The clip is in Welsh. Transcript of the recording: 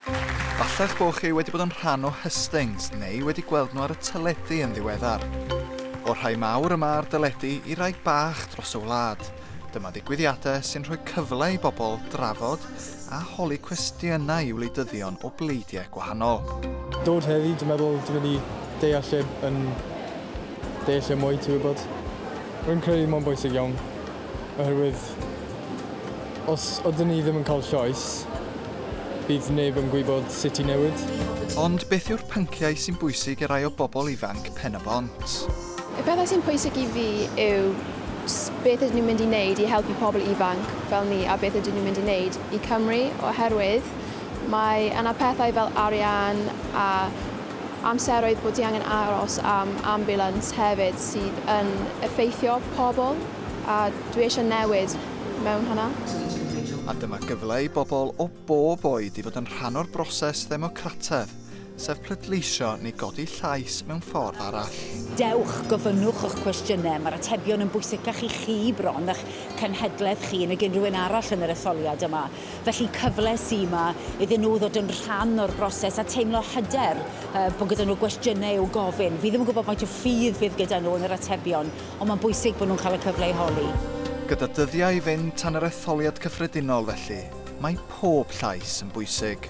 Falle eich bod chi wedi bod yn rhan o hustings neu wedi gweld nhw ar y teledu yn ddiweddar. O'r rhai mawr yma ar deledu i rai bach dros y wlad, dyma ddigwyddiadau sy'n rhoi cyfle i bobl drafod a holi cwestiynau i wleidyddion o bleidiau gwahanol. Dod heddi, dwi'n meddwl dwi'n mynd i deall lle yn deall lle mwy, ti'n gwybod. Rwy'n credu mae'n bwysig iawn oherwydd os ydyn ni ddim yn cael llais, Bydd neb yn gwybod sut i newid. Ond beth yw'r pynciau sy'n bwysig i rai o bobl ifanc Pen-y-bont? Y pethau sy'n pwysig i fi yw beth ydyn nhw'n mynd i wneud i helpu pobl ifanc fel ni a beth ydyn nhw'n mynd i wneud i Cymru oherwydd mae yna pethau fel arian a amseroedd bod ti angen aros am ambiwlans hefyd sydd yn effeithio pobl a dwi eisiau newid mewn hwnna. A dyma gyfle i bobl o bob oed i fod yn rhan o'r broses ddemocrataidd, sef pleidleisio neu godi llais mewn ffordd arall. Dewch, gofynnwch y'ch cwestiynau, mae'r atebion yn bwysicach i chi bron na'ch cenhedlaeth chi nag unrhyw un arall yn yr etholiad yma. Felly, cyfle sy' 'ma iddyn nhw ddod yn rhan o'r broses a teimlo hyder bod gyda nhw gwestiynau i'w gofyn. Fi ddim yn gwybod faint o ffydd fydd gyda nhw yn yr atebion, Ond mae'n bwysig bod nhw'n cael y cyfle i holi. Gyda dyddiau i fynd tan yr etholiad cyffredinol felly, mae pob llais yn bwysig.